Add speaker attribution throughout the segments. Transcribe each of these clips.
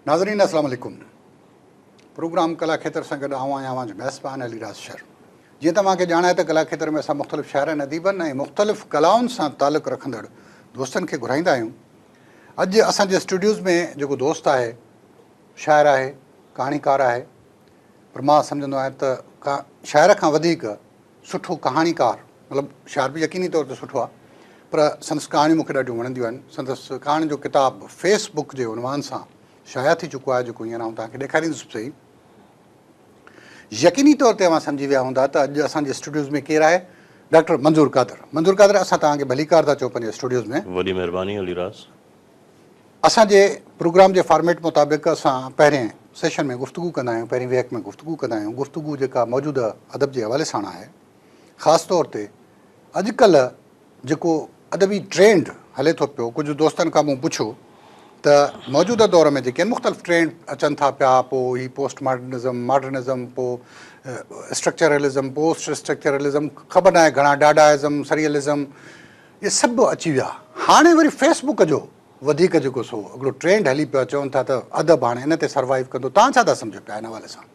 Speaker 1: ناظرين السلام عليڪم پروگرام ڪلا کيتر سان گڏ آئون آهيان اوهان جو ميزبان علي راز شر جيئن ته اوهان کي ڄاڻ آهي ته ڪلا کيتر ۾ اسان مختلف شاعرن اديبن ۽ مختلف ڪلائن سان تعلق رکندڙ دوستن کي گهرائيندا آهيون اڄ اسان جي اسٽوڊيوز ۾ جيڪو دوست آهي شاعر آهي، ڪهاڻيڪار آهي پر مان سمجهندو آهيان ته ڪا شاعر کان وڌيڪ سٺو ڪهاڻيڪار مطلب شاعر به يقيني طور تي سٺو آهي پر سندس ڪهاڻيون مون کي ڏاڍيون وڻنديون آهن. سندس ڪهاڻين جو ڪتاب فيس بڪ جي عنوان سان شايع ٿي چڪو آهي جيڪو هينئر آئون توهان کي ڏيکاريندس به صحيح. يقيني طور تي اوهان سمجهي ويا هوندا ته اڄ اسان جي اسٽوڊيوز ۾ ڪير آهي، ڊاڪٽر منظور قادر. منظور قادر اسان توهان کي ڀليڪار ٿا چئون پنهنجي اسٽوڊيوز ۾. وڏي مهرباني علي
Speaker 2: راز.
Speaker 1: اسان جي پروگرام جي فارميٽ مطابق اسان پهرين سيشن ۾ گفتگو ڪندا آهيون، پهرين ويهڪ ۾ گفتگو ڪندا آهيون، گفتگو جيڪا موجوده ادب جي حوالي ساڻ آهي، خاص طور تي اڄ ڪلهه جيڪو ادبي ٽرينڊ هلي ٿو پيو، ڪجهه دوستن کان مون پڇيو ته موجوده دور ۾ جيڪي مختلف ٽرينڊ اچن ٿا پيا، پوء هي پوسٽ ماڊرنزم، ماڊرنزم، پوء اسٽرڪچرلزم، پوسٽ اسٽرڪچرلزم، خبر ناهي گهڻا ڊاڊا ازم، سريئلزم، اهي سڀ اچي ويا هاڻي وري فيس بڪ جو وڌيڪ جيڪو سو هڪڙو ٽرينڊ هلي پيو چون ٿا ته ادب هاڻي ان تي سروائيو ڪندو توهان ڇا ٿا سمجهو پيا ان حوالي سان.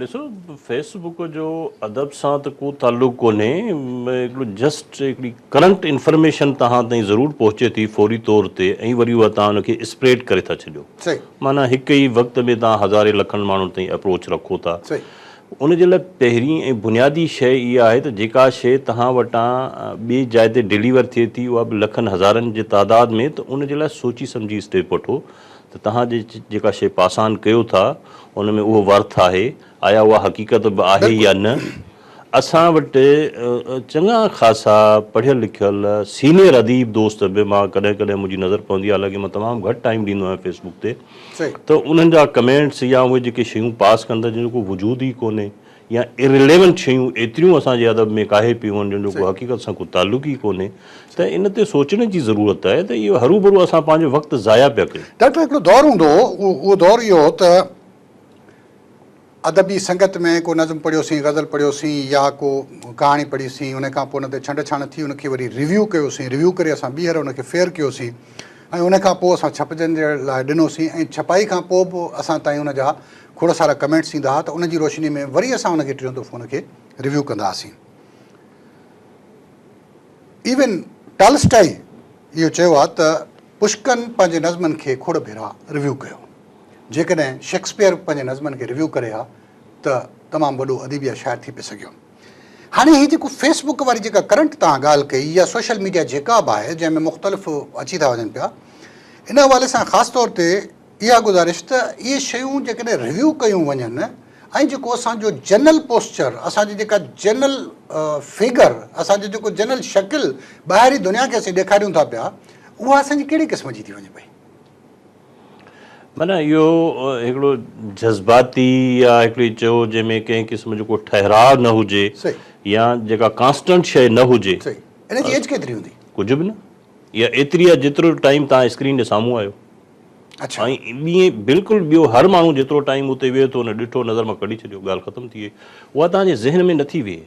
Speaker 2: ڏسو فيس بڪ جو ادب سان ته ڪو تعلق ڪونهي هڪڙو جسٽ هڪڙي ڪرنٽ انفرميشن توهان تائين ضرور پهچي ٿي فوري طور تي ۽ وري اها توهان ان کي اسپريڊ ڪري ٿا ڇڏيو معنيٰ هڪ
Speaker 1: ئي
Speaker 2: وقت ۾ توهان هزارين لکن ماڻهن تائين اپروچ رکو ٿا ان جي
Speaker 1: لاء
Speaker 2: پهرين ۽ بنيادي شيء اها آهي ته جيڪا شيء توهان وٽان ٻي جاء تي ڊليور ٿئي ٿي اها به لکن هزارن جي تعداد ۾ ته ان جي لاء سوچي سمجهي اسٽيپ وٺو ته توهان جي جيڪا شيء پاسان ڪيو ٿا ان ۾ اهو ورٿ آهي آيا اها حقيقت به آهي يا نه اسان وٽ چڱا خاصا پڙهيل لکيل سينيئر اديب دوست به مان ڪڏهن ڪڏهن منهنجي نظر پوندي آهي حالانڪه مان تمام گهٽ ٽائيم ڏيندو آهيان فيسبوڪ تي ته انهن جا ڪمينٽس يا اهي جيڪي شيون پاس ڪن ٿا جن جو ڪو وجود ئي ڪونهي يا Irrelevant شيون ايتريون اسان جي ادب ۾ ڪاهي پيون آهن جن جو ڪو حقيقت سان ڪو تعلق ئي ڪونهي ته ان تي سوچڻ جي ضرورت آهي ته اهو هروڀرو اسان پنهنجو وقت ضايع پيا ڪيون. ڊاڪٽر هڪڙو دور هوندو
Speaker 1: هو اهو دور اهو هو ته ادبي سنگت ۾ ڪو نظم پڙهيو سين، غزل پڙهيو سين يا ڪو ڪهاڻي پڙهي سين، ان کان پوء ان تي ڇنڊ ڇاڻ ٿي، ان کي وري ريويو ڪيو سين، ريويو ڪري اسان ٻيهر ان کي ڦير ڪيو سين ۽ ان کان پوء اسان ڇپجڻ جي لاء ڏنو سين ۽ ڇپائي کان پوء به اسان تائين ان جا کوڙ سارا ڪمينٽس ايندا ها ته ان جي روشني ۾ وري اسان ان کي ٽيون دفعو ان کي ريويو ڪندا هئاسين. ايون ٽالسٽائي اهو چيو آهي ته پشڪن پنهنجي نظمن کي کوڙ ڀيرا ريويو ڪيو. جيڪڏهن شيڪسپيئر پنهنجي نظمن کي ريويو ڪري ها ته تمام وڏو اديب يا شاعر ٿي پئي سگهيو هاڻي هي جيڪو فيس بڪ واري جيڪا ڪرنٽ توهان ڳالهه ڪئي يا سوشل ميڊيا جيڪا به آهي جنهن ۾ مختلف اچي ٿا وڃن پيا ان حوالي سان خاص طور تي اها گذارش ته اهي شيون جيڪڏهن ريويو ڪيون وڃن ۽ جيڪو اسان جو جنرل پوسچر اسان جي جيڪا جنرل فگر اسان جو جيڪو جنرل شڪل ٻاهرين دنيا کي اسين ڏيکاريون ٿا پيا اها اسان جي ڪهڙي قسم جي ٿي وڃي پئي
Speaker 2: معنيٰ اهو هڪڙو جذباتي يا هڪڙي چئو جنهن ۾ ڪنهن قسم جو ڪو ٺهراء نه هجي يا جيڪا ڪانسٽنٽ شيء نه هجي. ان جي ايج ڪيتري
Speaker 1: هوندي؟ ڪجهه به نه.
Speaker 2: اها ايتري آهي جيترو ٽائيم توهان اسڪرين جي سامهون آهيو. اڇا.
Speaker 1: ۽ ٻئي
Speaker 2: بلڪل ٻيو هر ماڻهو جيترو ٽائيم اتي ويهي ٿو ان ڏٺو نظر مان ڪڍي ڇڏيو ڳالهه ختم ٿي وئي. اها توهان جي ذهن ۾ نه ٿي ويهي.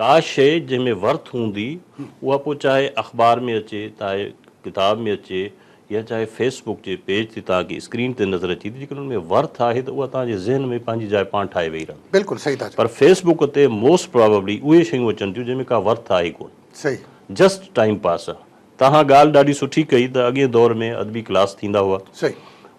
Speaker 2: ڪا شيء جنهن ۾ ورٿ هوندي اها پوء چاهي اخبار ۾ اچي چاهي ڪتاب ۾ اچي يا چاهي فيس بڪ جي پيج تي توهان کي اسڪرين تي نظر اچي ٿي جيڪڏهن ان ۾ ورٿ آهي ته اها توهان جي ذهن ۾ پنهنجي جاء پاڻ ٺاهي ويهي رهندي بلڪل صحيح ٿا چئو. پر فيس
Speaker 1: بڪ تي موسٽ
Speaker 2: پرابيبلي اهي شيون اچن ٿيون جنهن ۾ ڪا ورٿ آهي ڪونه صحيح. جسٽ
Speaker 1: ٽائيم
Speaker 2: پاس آ. تهان ڳالهه ڏاڍي سٺي ڪئي ته اڳئين دور ۾ ادبي ڪلاس ٿيندا هئا صحيح.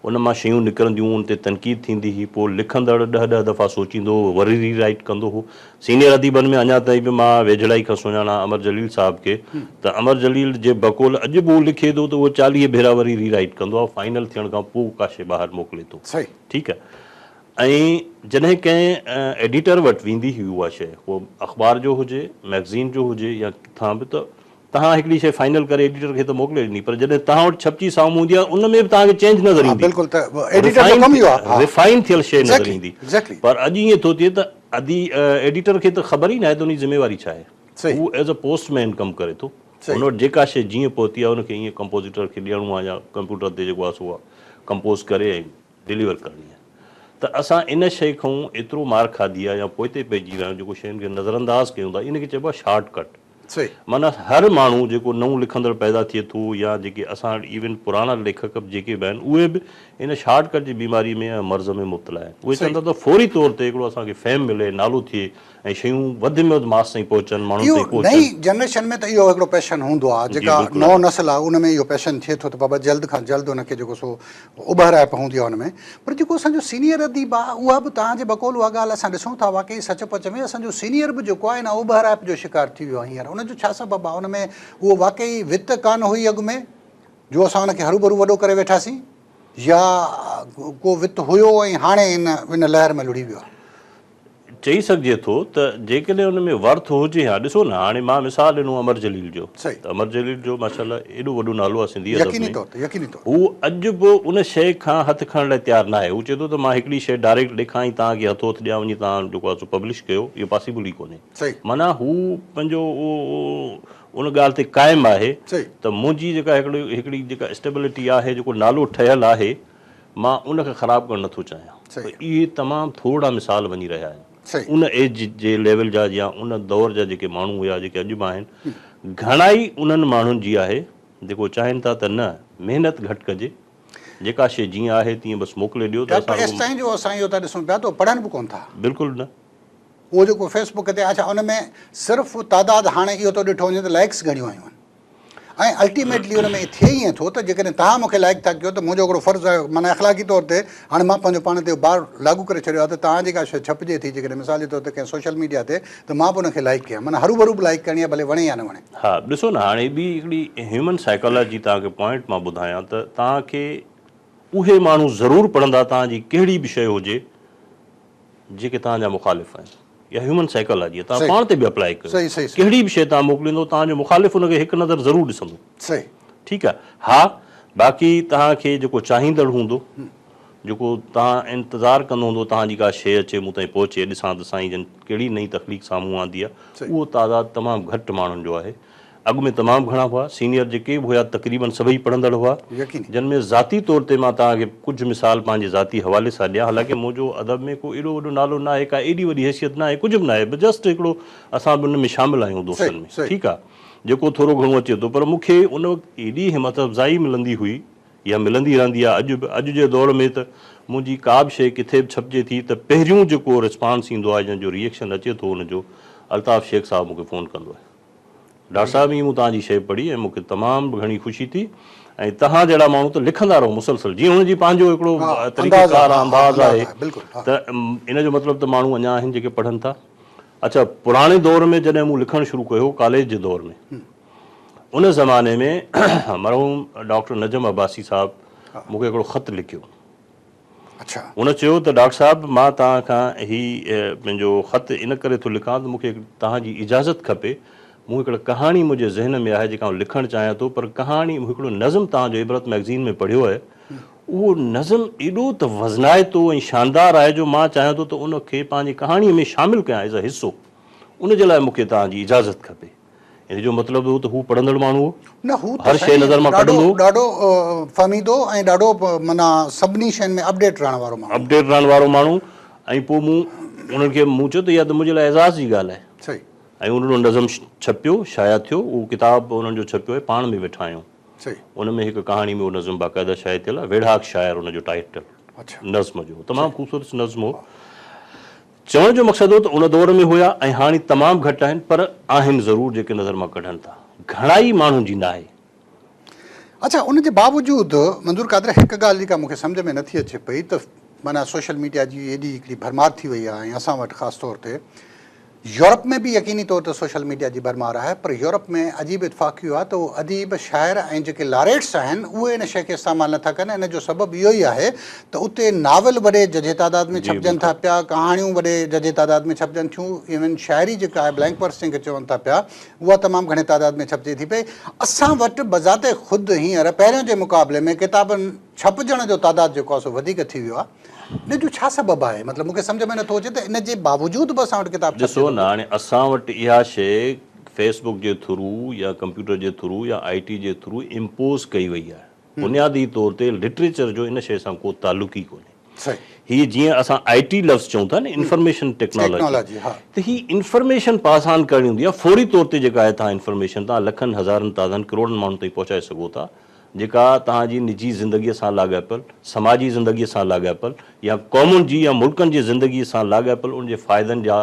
Speaker 2: ان مان
Speaker 1: شيون
Speaker 2: نڪرنديون ان تي تنقيد ٿيندي هئي پوء لکندڙ ڏهه ڏهه دفعا سوچيندو هو وري ري رائيٽ ڪندو هو سينيئر اديبن ۾ اڃا تائين به مان ويجهڙائي کان سڃاڻان امر جليل صاحب کي ته امر جليل جي بقول اڄ به هو لکي ٿو ته اهو چاليهه ڀيرا وري ري رائيٽ ڪندو آهي فائنل ٿيڻ کان پوء ڪا شي ٻاهر موڪلي ٿو صحيح. ٺيڪ آهي ۽ جڏهن ڪنهن ايڊيٽر وٽ ويندي هئي اها شي هو اخبار جو هجي مئگزين جو هجي يا ڪٿان به ته توهان هڪڙي شيء فائنل ڪري ايڊيٽر کي ته موڪلي ڏني پر جڏهن توهان وٽ ڇپجي سامهون هوندي آهي ان ۾ به توهان کي چينج نظر ايندي. ها بلڪل ته ايڊيٽر جو ڪم ئي اهو آهي. ريفائن ٿيل شيء نظر ايندي پر اڄ ائين ٿو ٿئي ته ادي ايڊيٽر کي ته خبر ئي ناهي ته ان جي ذميواري ڇا آهي. هو ايز اي پوسٽ مين ڪم ڪري ٿو. هن وٽ جيڪا شيء جيئن پهتي آهي ان کي ائين ڪمپوزيٽر کي ڏيڻو آهي يا ڪمپيوٽر تي جيڪو آهي سو ڪمپوز ڪري ۽ ڊليور ڪرڻي آهي ته اسان ان شيء کان ايترو مار کاڌي آهي يا پوئتي پئجي ويا آهيون جيڪو شين کي نظر انداز ڪيون ٿا ان کي چئبو آهي شارٽ ڪٽ
Speaker 1: معنيٰ هر
Speaker 2: ماڻهو جيڪو نئون لکندڙ پيدا ٿئي ٿو يا جيڪي اسان وٽ ايون پراڻا ليکڪ به جيڪي به آهن اهي به ان شارٽ ڪٽ جي بيماري ۾ يا مرض ۾ مبتلا آهن اهي چون ٿا ته فوري طور تي هڪڙو اسان کي فيم ملي نالو ٿئي ۽ شيون وڌ ۾ وڌ ماس تائين پهچن ماڻهن اهو تائين پهچن. نئين
Speaker 1: جنريشن
Speaker 2: ۾ ته اهو
Speaker 1: هڪڙو پيشن هوندو آهي جيڪا نئون نسل آهي ان
Speaker 2: ۾ اهو
Speaker 1: پيشن ٿئي ٿو ته بابا جلد کان جلد ان کي جيڪو سو اڀرائپ هوندي آهي ان ۾ پر جيڪو اسان جو سينيئر اديب آهي اها به توهان جي بقول اها ڳالهه اسان ڏسون ٿا واقعي سچ پچ ۾ اسان جو سينيئر به جيڪو آهي ان اڀرائپ جو شڪار ٿي ويو آهي هينئر ان جو ڇا سبب آهي ان ۾ اهو واقعي وت ڪانه هئي اڳ ۾ جو اسان ان کي هروڀرو وڏو ڪري ويٺاسين يا ڪو وت هيو ۽ هاڻي ان ان لهر ۾ لڙهي ويو آهي. چئي
Speaker 2: سگهجي ٿو ته جيڪڏهن ان ۾ ورٿ هجي ها ڏسو نه هاڻي مان مثال ڏنو امر جليل جو ته امر جليل جو
Speaker 1: ماشاء
Speaker 2: الله ايڏو وڏو نالو آهي سنڌي ادب ۾ هو
Speaker 1: اڄ به ان
Speaker 2: شيء کان هٿ کڻڻ لاء تيار ناهي هو چئي ٿو ته مان هڪڙي شيء ڊائريڪٽ لکان ۽ توهان کي هٿو هٿ ڏيان وڃي توهان جيڪو آهي سو پبلش ڪيو اهو پاسيبل ئي ڪونهي معنيٰ هو پنهنجو ان ڳالهه تي قائم آهي ته منهنجي
Speaker 1: جيڪا
Speaker 2: هڪڙي هڪڙي جيڪا اسٽيبلٽي آهي جيڪو نالو ٺهيل آهي مان ان کي خراب ڪرڻ نٿو چاهيان پر اهي تمام
Speaker 1: ٿورڙا
Speaker 2: مثال وڃي رهيا آهن ان ايج
Speaker 1: جي
Speaker 2: ليول جا يا ان دور جا جيڪي ماڻهو هيا جيڪي اڄ به آهن گهڻائي انهن ماڻهن جي آهي جيڪو چاهين ٿا ته نه محنت گهٽ ڪجي جيڪا شيء جيئن آهي تيئن بس موڪلي ڏيو ته اسان ايستائين جو اسان اهو
Speaker 1: ٿا ڏسون پيا ته اهي پڙهن به ڪونه ٿا بلڪل نه.
Speaker 2: اهو جيڪو
Speaker 1: فيس بڪ تي آهي ڇا ان ۾ صرف تعداد هاڻي اهو ٿو ڏٺو وڃي ته لائڪس گهڻيون آيون آهن. ۽ الٽيميٽلي ان ۾ ٿئي ائين ٿو ته جيڪڏهن توهان مون کي لائق ٿا ڪيو ته منهنجو هڪڙو فرض آهي معنيٰ اخلاقي طور تي هاڻي مان پنهنجو پاڻ تي اهو بار لاڳو ڪري ڇڏيو آهي ته توهان جي ڪا شيء ڇپجي ٿي جيڪڏهن مثال جي طور تي ڪنهن سوشل ميڊيا تي ته مان به ان کي لائق ڪيان معنيٰ هروڀرو به لائق ڪرڻي آهي ڀلي وڻي يا نه وڻي. ها ڏسو نه هاڻي ٻي
Speaker 2: هڪڙي هيومن سائيڪالاجي توهان کي پوائنٽ مان ٻڌايان ته توهان کي اهي ماڻهو ضرور پڙهندا توهان جي ڪهڙي به شيء هجي. جيڪي توهان جا مخالف آهن. اها هيومن سائيڪالاجي آهي. توهان پاڻ تي به اپلائي ڪيو. ڪهڙي به شيء توهان
Speaker 1: موڪليندو
Speaker 2: توهان جو مخالف ان کي هڪ نظر ضرور ڏسندو. ٺيڪ
Speaker 1: آهي. ها
Speaker 2: باقي توهان کي جيڪو چاهيندڙ هوندو، جيڪو توهان انتظار ڪندو هوندو توهان جي ڪا شيء اچي مون تائين پهچي ڏسان ته سائين جن ڪهڙي نئين تخليق سامهون آندي آهي اهو تعداد تمام گهٽ ماڻهن جو آهي. اڳ ۾ تمام گهڻا هئا، سينيئر جيڪي به هيا تقريبن سڀئي پڙهندڙ هئا، جن ۾ ذاتي طور تي مان توهان کي ڪجهه مثال پنهنجي ذاتي حوالي سان ڏيان، حالانڪه منهنجو ادب ۾ ڪو ايڏو وڏو نالو ناهي، ڪا ايڏي وڏي حيثيت ناهي، ڪجهه به ناهي، بس جسٽ هڪڙو اسان به ان ۾ شامل آهيون دوستن ۾ ٺيڪ آ، جيڪو ٿورو گهڻو اچي ٿو، پر مون کي ان وقت ايڏي همٿ افزائي ملندي هئي يا ملندي رهندي آ اڄ به، اڄ جي دور ۾ ته منهنجي ڪا به شيء ڪٿي به ڇپجي ٿي ته پهريون جيڪو رسپانس ايندو آ يا جو ريئڪشن اچي ٿو ان جو الطاف شيخ صاحب مون کي فون ڪندو آهي. ڊار صاحب ائين مون توهان جي شيء پڙهي ۽ مون کي تمام گهڻي خوشي ٿي ۽ توهان جهڙا ماڻهو ته لکندا رهو مسلسل جيئن هن جي پنهنجو هڪڙو طريقه ڪار آهي انداز آهي ته ان جو مطلب ته ماڻهو اڃا آهن جيڪي پڙهن ٿا اڇا پراڻي دور ۾ جڏهن مون لکڻ شروع ڪيو ڪاليج جي دور ۾ ان زماني ۾ مرحوم ڊاڪٽر نجم عباسي صاحب مون کي هڪڙو خط لکيو.
Speaker 1: هن چيو ته
Speaker 2: ڊاڪٽر صاحب مان توهان کان هي پنهنجو خط ان ڪري ٿو لکان ته مون کي توهان جي اجازت کپي مون هڪڙ ڪهاڻي منهنجي ذهن ۾ آهي جيڪا آئون لکڻ چاهيان ٿو پر ڪهاڻي هڪڙو نظم توهان جو عبرت مئگزين ۾ پڙهيو آهي اهو نظم ايڏو ته وزنائتو ۽ شاندار آهي جو مان چاهيان ٿو ته ان کي پنهنجي ڪهاڻي ۾ شامل ڪيان ايز اي حصو ان جي لاء مون کي توهان جي اجازت کپي. ان جو مطلب هو ته هو پڙهندڙ ماڻهو هو. نه هو ته سائين
Speaker 1: ڏاڍو
Speaker 2: ڏاڍو
Speaker 1: فهميدو ۽ ڏاڍو معنيٰ سڀني شين ۾ اپڊيٽ رهڻ وارو ماڻهو هو. اپڊيٽ رهڻ وارو ماڻهو
Speaker 2: ۽ پوء مون انهن کي مون چيو ته اها ته منهنجي لاء اعزاز جي ڳالهه آهي. صحيح. ۽ انهن جو
Speaker 1: نظم
Speaker 2: ڇپيو شايع ٿيو اهو ڪتاب انهن جو ڇپيو آهي پاڻ ۾ ويٺا آهيون. صحيح. ان ۾ هڪ
Speaker 1: ڪهاڻي
Speaker 2: ۾ اهو نظم باقاعده شايع ٿيل آهي ويڙهاڪ شاعر ان جو ٽائيٽل نظم جو هو تمام خوبصورت نظم هو. چوڻ جو مقصد هو ته ان دور ۾ هيا ۽ هاڻي تمام گهٽ آهن پر آهن ضرور جيڪي نظر مان ڪڍن ٿا. گهڻائي ماڻهن جي ناهي.
Speaker 1: اڇا ان جي باوجود منظور قادريا هڪ ڳالهه جيڪا مون کي سمجهه ۾ نٿي اچي پئي ته معنيٰ سوشل ميڊيا جي ايڏي هڪڙي ڀرمار ٿي وئي آهي ۽ اسان وٽ خاص طور تي يورپ ۾ به يقيني طور تي سوشل ميڊيا جي ڀرمار آهي پر يورپ ۾ عجيب اتفاق اهو آهي ته اهو اديب شاعر ۽ جيڪي لاريٽس آهن اهي ان شيء کي استعمال نٿا ڪن ان جو سبب اهو ئي آهي ته اتي ناول وڏي ججهي تعداد ۾ ڇپجن ٿا پيا، ڪهاڻيون وڏي ججهي تعداد ۾ ڇپجن ٿيون، ايون شاعري جيڪا آهي بلينڪ ورس جنهن کي چون ٿا پيا، اها تمام گهڻي تعداد ۾ ڇپجي ٿي پئي. اسان وٽ بذات خود هينئر پهريون جي مقابلي ۾ ڪتابن ڇپجڻ جو تعداد جيڪو آهي سو وڌيڪ ٿي ويو آهي. ان جو ڇا سبب آهي؟ مطلب مون کي سمجهه ۾ نٿو اچي ته ان جي باوجود به اسان وٽ ڪتاب ڇپجي ٿو پيو. ڏسو نه هاڻي اسان
Speaker 2: وٽ اها شيء فيس بڪ جي ٿرو يا ڪمپيوٽر جي ٿرو يا آئي ٽي جي ٿرو امپوز ڪئي وئي آهي. بنيادي طور تي لٽريچر جو ان شيء سان ڪو تعلق ئي ڪونهي.
Speaker 1: هي جيئن
Speaker 2: اسان آئي ٽي لفظ چئون ٿا نه انفارميشن ٽيڪنالاجي ته هي
Speaker 1: انفارميشن
Speaker 2: پاس آن ڪرڻي هوندي آهي فوري طور تي جيڪا آهي توهان انفارميشن توهان لکن هزارن تعدادن ڪروڙن ماڻهن تائين پهچائي سگهو ٿا جيڪا توهان جي نجي زندگي سان لاڳاپيل سماجي زندگي سان لاڳاپيل يا قومن جي يا ملڪن جي زندگي سان لاڳاپيل ان جي فائدن جا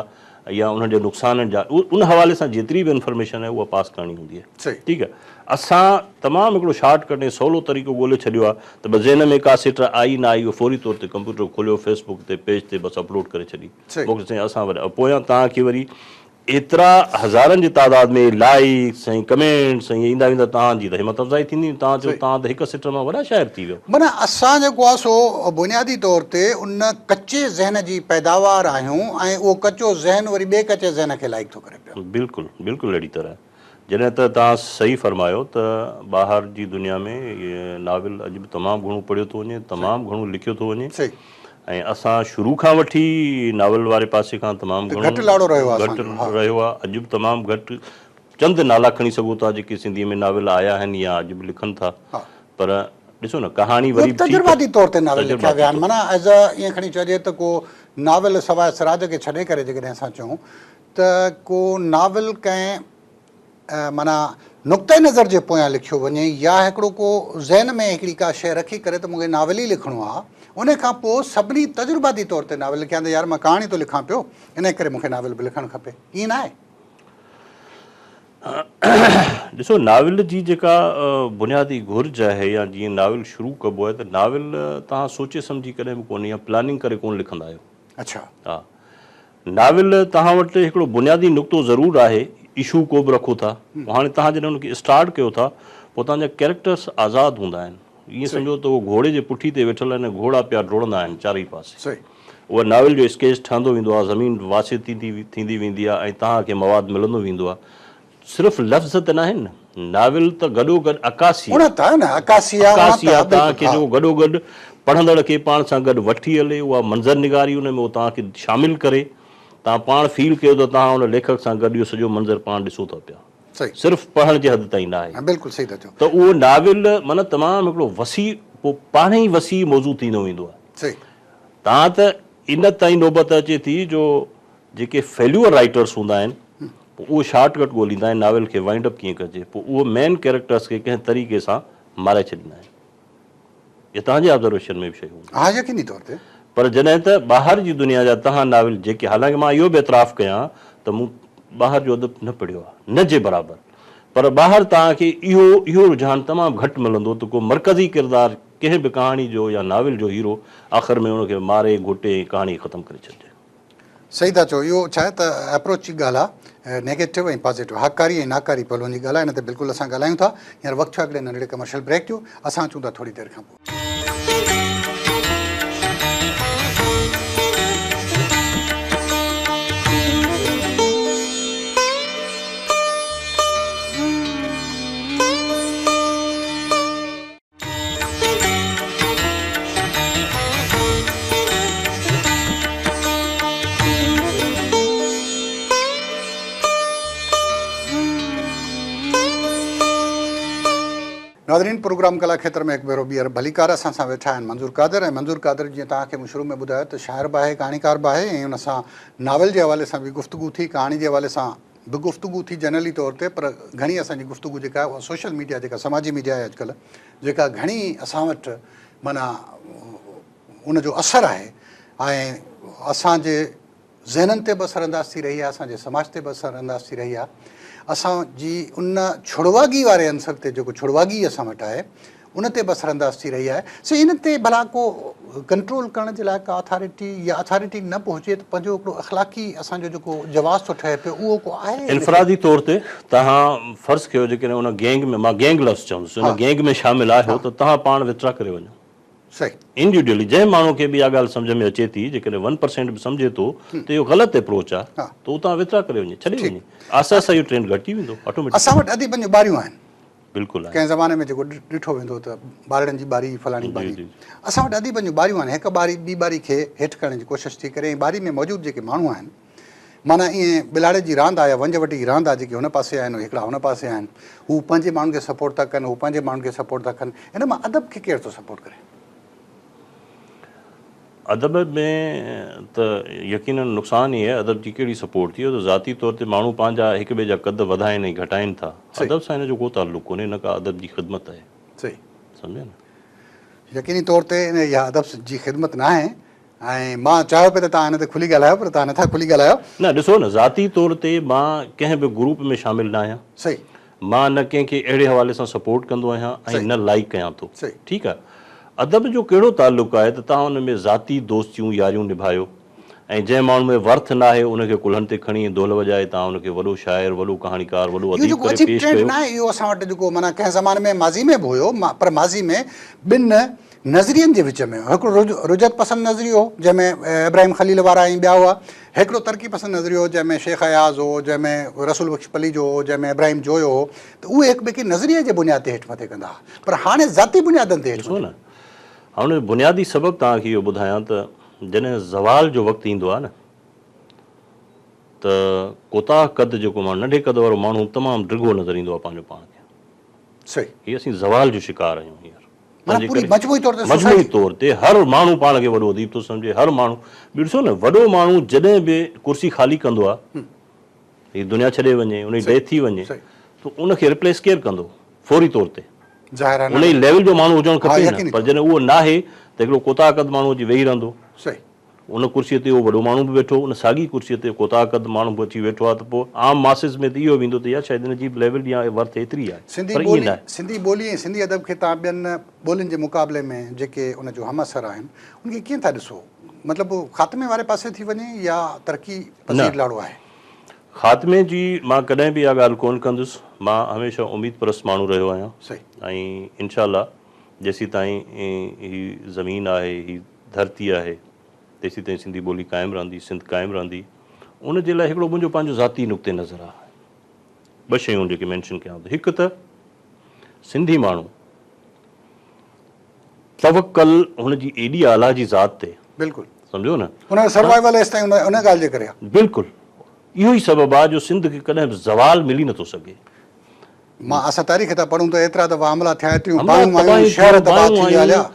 Speaker 2: يا انهن جي نقصانن جا ان حوالي سان جيتري به انفرميشن آهي اها پاس ڪرڻي هوندي آهي ٺيڪ آهي
Speaker 1: اسان
Speaker 2: تمام هڪڙو شارٽ ڪٽ ۽ سولو طريقو ڳولي ڇڏيو آهي ته بس ذهن ۾ ڪا سٽ آئي نه آئي اهو فوري طور تي ڪمپيوٽر کوليو فيس بڪ تي پيج تي بس اپلوڊ ڪري ڇڏي موڪلي سائين اسان وري پويان توهان کي وري ايترا هزارن جي تعداد ۾ لائڪس ۽ ڪمينٽس ۽ ايندا ويندا توهان جي ته همت افزائي ٿيندي توهان چئو توهان ته هڪ سٽ مان وڏا شاعر ٿي ٿي ويو. معنيٰ اسان جيڪو آهي
Speaker 1: سو بنيادي طور تي ان ڪچي ذهن جي پيداوار آهيون ۽ اهو ڪچو ذهن وري ٻئي ڪچي ذهن کي لائق ٿو ڪري پيو. بلڪل بلڪل اهڙي
Speaker 2: طرح جڏهن ته توهان صحيح فرمايو ته ٻاهر جي دنيا ۾ ناول اڄ به تمام گهڻو پڙهيو ٿو وڃي تمام گهڻو لکيو ٿو وڃي صحيح. ۽
Speaker 1: اسان
Speaker 2: شروع کان وٺي ناول واري پاسي کان تمام گهڻو گهٽ لاڙو رهيو آهي اسان جو. گهٽ
Speaker 1: رهيو آهي اڄ
Speaker 2: به
Speaker 1: تمام
Speaker 2: گهٽ. چند نالا کڻي سگهو ٿا جيڪي سنڌيء ۾ ناول آيا آهن يا اڄ به لکن ٿا پر
Speaker 1: ڏسو
Speaker 2: نه ڪهاڻي وري به ٺيڪ تجرباتي طور تي ناول لکيا
Speaker 1: ويا آهن معنيٰ as a ائين کڻي چئجي ته ڪو ناول سواء سراج کي ڇڏي ڪري جيڪڏهن اسان چئون ته ڪو ناول ڪنهن معنيٰ نقطه نظر جي پويان لکيو وڃي يا هڪڙو ڪو ذهن ۾ هڪڙي ڪا شيء رکي ڪري ته مون کي ناول ئي لکڻو آهي ان کان پوء سڀني تجرباتي طور تي ناول لکيا آهن ته يار مان ڪهاڻي ٿو لکان پيو انهيء ڪري مون کي ناول به لکڻ کپي ائين ناهي.
Speaker 2: ڏسو ناول جي جيڪا بنيادي گهرج آهي يا جيئن ناول شروع ڪبو آهي ته ناول توهان سوچي سمجهي ڪڏهن به ڪونه يا پلاننگ ڪري ڪونه لکندا آهيو اڇا ها ناول توهان وٽ هڪڙو بنيادي نقطو ضرور آهي اشو ڪو به رکو ٿا هاڻي توهان جڏهن ان کي اسٽارٽ ڪيو ٿا پوء توهان جا ڪيريڪٽرس آزاد هوندا آهن ائين سمجهو ته اهو گهوڙي جي پٺي تي ويٺل آهن ۽ گهوڙا پيا ڊوڙندا آهن چارئي پاسي صحيح اهو ناول
Speaker 1: جو
Speaker 2: اسڪيچ ٺهندو ويندو آهي، زمين واسع ٿيندي ٿيندي ويندي آهي ۽ توهان کي مواد ملندو ويندو آهي. صرف لفظ ته ناهن، ناول ته گڏوگڏ عڪاسي آهي. اڻت آهي نه، عڪاسي آهي، اڻت عڪاسي آهي، آهي، توهان بلڪل کي ها. جيڪو گڏوگڏ پڙهندڙ کي پاڻ سان گڏ وٺي هلي، اها منظر نگاري ان ۾ اهو توهان کي شامل ڪري، توهان پاڻ فيل ڪيو ته توهان ان ليکڪ سان گڏ اهو سڄو منظر پاڻ ڏسو ٿا پيا. صحيح. صرف پڙهڻ جي حد تائين ناهي. ها بلڪل صحيح ٿا چئو. ته اهو
Speaker 1: ناول
Speaker 2: معنيٰ تمام هڪڙو وسيع پوء پاڻهي ئي وسيع موضوع ٿيندو ويندو آهي. صحيح. تان ته ان تائين نوبت اچي ٿي جو جيڪي فيليور رائيٽرس هوندا آهن پوء اهي شارٽ ڪٽ ڳوليندا آهن ناول کي وائنڊ اپ ڪيئن ڪجي پوء اهي مين ڪيريڪٽرس کي ڪنهن طريقي سان مارائي ڇڏيندا آهن اهي تهان جي آبزرويشن ۾ به شيون هونديون آهن ها يقيني طور تي.
Speaker 1: پر جڏهن ته ٻاهر جي
Speaker 2: دنيا جا تهان ناول جيڪي حالانڪه مان اهو به اعتراف ڪيان ته مون ٻاهر جو ادب نه پڙهيو آهي نه جي برابر پر ٻاهر تهان کي اهو اهو رجحان تمام گهٽ ملندو ته ڪو مرڪزي ڪردار ڪنهن به ڪهاڻي جو يا ناول جو هيرو آخر ۾ ان کي ماري گهٽي ۽ ڪهاڻي ختم ڪري ڇڏجي. صحيح ٿا
Speaker 1: چئو اهو ڇا آهي ته اپروچ جي ڳالهه آهي نيگيٽو ۽ پازيٽو هاڪاري ۽ ناڪاري پهلون جي ڳالهه آهي ان تي بلڪل اسان ڳالهايون ٿا هينئر وقت ٿيو آهي هڪڙي ننڍڙي ڪمرشل بريڪ جو اسان اچون ٿا ٿوري دير کان پوء. ناظرين پروگرام ڪلا کيتر ۾ هڪ ڀيرو ٻيهر ڀليڪار اسان سان ويٺا آهن منظور قادر ۽ منظور قادر جيئن توهان کي مون شروع ۾ ٻڌايو ته شاعر به آهي ڪهاڻيڪار به آهي ۽ ان سان ناول جي حوالي سان به گفتگو ٿي ڪهاڻي جي حوالي سان به گفتگو ٿي جنرلي طور تي پر گهڻي اسان جي گفتگو جيڪا آهي اها سوشل ميڊيا جيڪا سماجي ميڊيا آهي اڄڪلهه جيڪا گهڻي اسان وٽ معنيٰ ان جو اثر آهي ۽ اسان جي ذهنن تي به اثر انداز ٿي رهي آهي اسان جي سماج تي به اثر انداز ٿي رهي آهي اسان جي ان ڇڙواڳي واري عنصر تي جيڪو ڇڙواڳي اسان وٽ آهي ان تي به اثرانداز ٿي رهي آهي سو ان تي ڀلا ڪو ڪنٽرول ڪرڻ جي لاء ڪا اٿارٽي يا اٿارٽي نه به هجي ته پنهنجو هڪڙو اخلاقي اسان جو جيڪو جواز ٿو ٺهي پيو اهو ڪو آهي انفرادي طور تي
Speaker 2: توهان فرض ڪيو جيڪڏهن ان گينگ ۾ مان گينگ لفظ چوندس ان گينگ ۾ شامل آهيو ته توهان پاڻ وٿڙا ڪري وڃو صحيح
Speaker 1: انڊيوڊيلي جنهن
Speaker 2: ماڻهو کي به اها ڳالهه سمجهه ۾ اچي ٿي جيڪڏهن ون پرسينٽ به سمجهي ٿو ته اهو غلط اپروچ آهي ته اتان وٿڙا ڪري وڃي ڇڏي وڃي آهستي آهستي اهو ٽرينڊ گهٽجي ويندو آٽوميٽڪ اسان وٽ اديبن جون ٻاريون
Speaker 1: آهن. بلڪل ڪنهن زماني
Speaker 2: ۾ جيڪو ڏٺو
Speaker 1: ويندو ته ٻارڙن جي ٻاري فلاڻي ٻاري اسان وٽ ادي پنهنجون ٻاريون آهن هڪ ٻاري ٻي ٻاري کي هيٺ ڪرڻ جي ڪوشش ٿي ڪري ۽ ٻاري ۾ موجود جيڪي ماڻهو آهن معنيٰ ايئن ٻلاڙي جي راند آهي يا ونج وٽي جي راند آهي جيڪي هن پاسي آهن هڪڙا هن پاسي آهن هو پنهنجي ماڻهن کي سپورٽ ٿا ڪن هو پنهنجي ماڻهن کي سپورٽ ٿا ڪن هن مان ادب کي ڪير ٿو سپورٽ ڪري. ادب
Speaker 2: ۾ ته يقينن نقصان ئي آهي، ادب جي ڪهڙي سپورٽ ٿي اهو ته ذاتي طور تي ماڻهو پنهنجا هڪ ٻئي جا قد وڌائين ۽ گهٽائين ٿا، ادب سان ان جو ڪو تعلق ڪونهي نه ڪا ادب جي خدمت آهي. سمجهيا نه؟ يقيني
Speaker 1: طور تي ان اها ادب جي خدمت ناهي ۽ مان چاهيو پئي ته توهان ان تي کلي ڳالهايو پر توهان نٿا کلي ڳالهايو. نه ڏسو نه ذاتي
Speaker 2: طور تي مان ڪنهن به گروپ ۾ شامل ناهيان مان
Speaker 1: نه ڪنهن کي
Speaker 2: اهڙي حوالي سان سپورٽ ڪندو آهيان ۽ نه لائيڪ ڪيان ٿو. ٺيڪ آهي. ادب جو ڪهڙو تعلق آهي ته توهان ان ۾ ذاتي دوستيون ياريون نڀايو ۽ جنهن ماڻهو ۾ ورٿ ناهي ان کي ڪلهن تي کڻي ۽ دهل وڄائي توهان ان کي وڏو شاعر، وڏو ڪهاڻيڪار، وڏو اهو اديب جيڪو ڪري عجيب پيش
Speaker 1: ٽرينڊ ڪيو.
Speaker 2: ناهي
Speaker 1: اهو اسان
Speaker 2: وٽ
Speaker 1: جيڪو معنيٰ ڪنهن زماني ۾ ماضي ۾ به هيو پر ماضي ۾ ٻن نظرين جي وچ ۾ هڪڙو رجعت پسند نظريو هو، جنهن ۾ ابراهيم خليل وارا ۽ ٻيا هئا. هڪڙو ترقي پسند نظريو هو، جنهن ۾ شيخ اياز هو، جنهن ۾ رسول بخش پليجو هو، جنهن ۾ ابراهيم جويو هو ته اهي هڪ ٻئي کي نظريي جي بنياد تي هيٺ مٿي ڪندا هئا پر هاڻي ذاتي بنيادن تي هيٺ مٿي ڪن.
Speaker 2: هاڻ ان جو بنيادي سبب توهان کي اهو ٻڌايان ته جڏهن زوال جو وقت ايندو آهي نه ته ڪوتاهه قد جيڪو ماڻهو ننڍي قد وارو ماڻهو تمام ڊگهو نظر ايندو آهي پنهنجو پاڻ کي. صحيح.
Speaker 1: هي اسين زوال
Speaker 2: جو شڪار آهيون هينئر. معنيٰ پوري مجموعي
Speaker 1: طور تي سوسائٽي مجموعي طور تي هر
Speaker 2: ماڻهو پاڻ کي وڏو اديب ٿو سمجهي هر ماڻهو ٻيو ڏسو نه وڏو ماڻهو جڏهن به ڪرسي خالي ڪندو آ هي دنيا ڇڏي وڃي ان جي ڊيٿ ٿي وڃي ته ان کي ريپليس ڪير ڪندو فوري طور تي ان جي
Speaker 1: ليول جو ماڻهو
Speaker 2: هجڻ کپي نه پر جڏهن اهو ناهي ته هڪڙو ڪوتاهه قد ماڻهو اچي ويهي رهندو ان
Speaker 1: ڪرسيء تي
Speaker 2: اهو وڏو ماڻهو به ويٺو، ان ساڳيء ڪرسيء تي ڪوتاهه قد ماڻهو به اچي ويٺو آهي ته پوء عام ماسز ۾ ته اهو ويندو ته يا شايد ان جي بليورڊ يا ورٿ ايتري آهي. سنڌي پر ائين ٻولي، ناهي. سنڌي
Speaker 1: ٻولي ۽ سنڌي ادب کي توهان ٻين ٻولين جي مقابلي ۾ جيڪي ان جو همعصر آهن، ان کي ڪيئن ٿا ڏسو؟ مطلب هو خاتمي واري پاسي ٿي وڃي يا ترقي نه. پذير لاڙو آهي؟ خاتمي
Speaker 2: جي مان ڪڏهن به اها ڳالهه ڪونه ڪندس. مان هميشه اميد پرست ماڻهو رهيو آهيان. صحيح. ۽
Speaker 1: انشاء الله
Speaker 2: جيسيتائين هي زمين آهي، هي. ڌرتي آهي تيسيتائين سنڌي ٻولي قائم رهندي سنڌ قائم رهندي ان جي لاء هڪڙو منهنجو پنهنجو ذاتي نقطه نظر آهي ٻه شيون جيڪي مينشن ڪيان ته هڪ ته سنڌي ماڻهو توڪل هن جي ايڏي اعليٰ جي ذات تي بلڪل سمجهو نه
Speaker 1: ان جو
Speaker 2: سروائيول ايستائين
Speaker 1: ان ڳالهه جي ڪري آهي بلڪل
Speaker 2: اهو ئي سبب آهي جو سنڌ کي ڪڏهن به زوال ملي نٿو سگهي. مان
Speaker 1: اسان تاريخ تان پڙهون ته ايترا دفعا حملا ٿيا ايتريون باهون آيون شهر تباهه ٿي ويا اليا.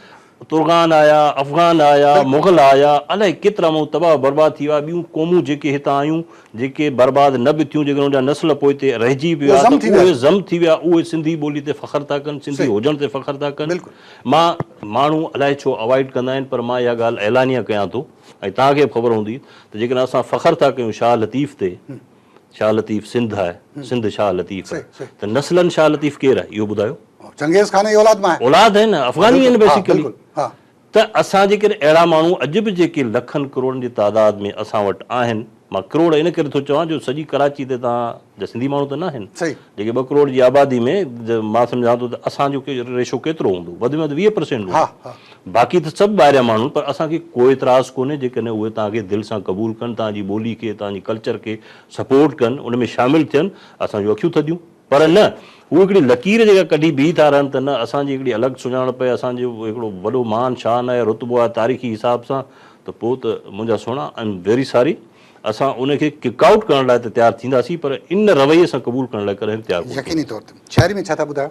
Speaker 2: ترغان آيا افغان آيا مغل آيا الائي ڪيترا ماڻهو تباهه برباد ٿي ويا ٻيون قومون جيڪي هتان آيون جيڪي برباد نه به ٿيون جيڪي انهن جا نسل پوئتي رهجي به ويا ته اهي ضم ٿي ويا اهي سنڌي ٻولي تي فخر ٿا ڪن سنڌي هجڻ تي فخر ٿا ڪن مان ماڻهو الائي ڇو اوائڊ ڪندا آهن پر مان اها ڳالهه اعلانيه ڪيان ٿو ۽ توهان کي به خبر هوندي ته جيڪڏهن اسان فخر ٿا ڪيون شاهه لطيف تي شاهه لطيف سنڌ آهي، سنڌ شاهه لطيف آهي ته نسلن شاهه لطيف ڪير آهي اهو ٻڌايو؟ چنگيز خان جي اولاد
Speaker 1: مان آهي. اولاد آهي نه افغاني آهن
Speaker 2: بيسيڪلي ته
Speaker 1: اسان جي
Speaker 2: ڪن اهڙا ماڻهو اڄ به جيڪي لکن ڪروڙن جي تعداد ۾ اسان وٽ آهن مان ڪروڙ ان ڪري ٿو چوان جو سڄي ڪراچي تي تان جا سنڌي ماڻهو ته نه آهن جيڪي ٻه ڪروڙ جي آبادي ۾ مان سمجهان ٿو ته اسان جو ريشو ڪيترو هوندو وڌ ۾ وڌ ويهه پرسينٽ هوندو. باقي ته سڀ ٻاهريان ماڻهو پر اسان کي ڪو اعتراض ڪونهي جيڪڏهن اهي توهان کي دل سان قبول ڪن توهان جي ٻولي کي توهان جي ڪلچر کي سپورٽ ڪن ان ۾ شامل ٿين اسان جون اکيون ٿڌيون پر نه هو هڪڙي لڪير جيڪا ڪڍي بيهي ٿا رهن ته نه اسان جي هڪڙي الڳ سڃاڻپ آهي اسان جو هڪڙو وڏو مان شان آهي رتبو آهي تاريخي حساب سان ته پوء ته منهنجا سهڻا آئي ايم ويري ساري اسان ان کي ڪڪ آئوٽ ڪرڻ لاء ته تيار ٿينداسين پر ان رويي سان قبول ڪرڻ لاء ڪڏهن به تيار ڪونه يقيني ٿينداسين. طور تي شاعري ۾
Speaker 1: ڇا ٿا ٻڌايو؟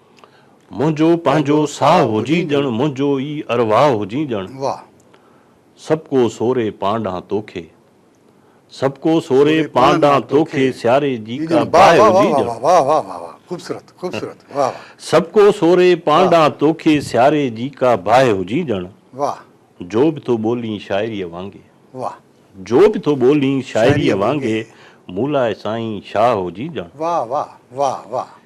Speaker 2: منهنجو پنهنجو ساهه هجين ڄڻ منهنجو ئي ارواح هجين ڄڻ
Speaker 1: سڀ ڪو
Speaker 2: سوري پان ڏانهن توکي سڀ ڪو سوري پان ڏانهن توکي سياري جي ڪا باهه هجين
Speaker 1: ڄڻ سڀ ڪو سوري
Speaker 2: پان ڏانهن توکي سياري جي ڪا باهه هجين ڄڻ
Speaker 1: جو به ٿو
Speaker 2: ٻولين شاعريء وانگي
Speaker 1: جو به ٿو
Speaker 2: ٻولين شاعريء وانگي مون لاء سائين شاهه هجين ڄڻ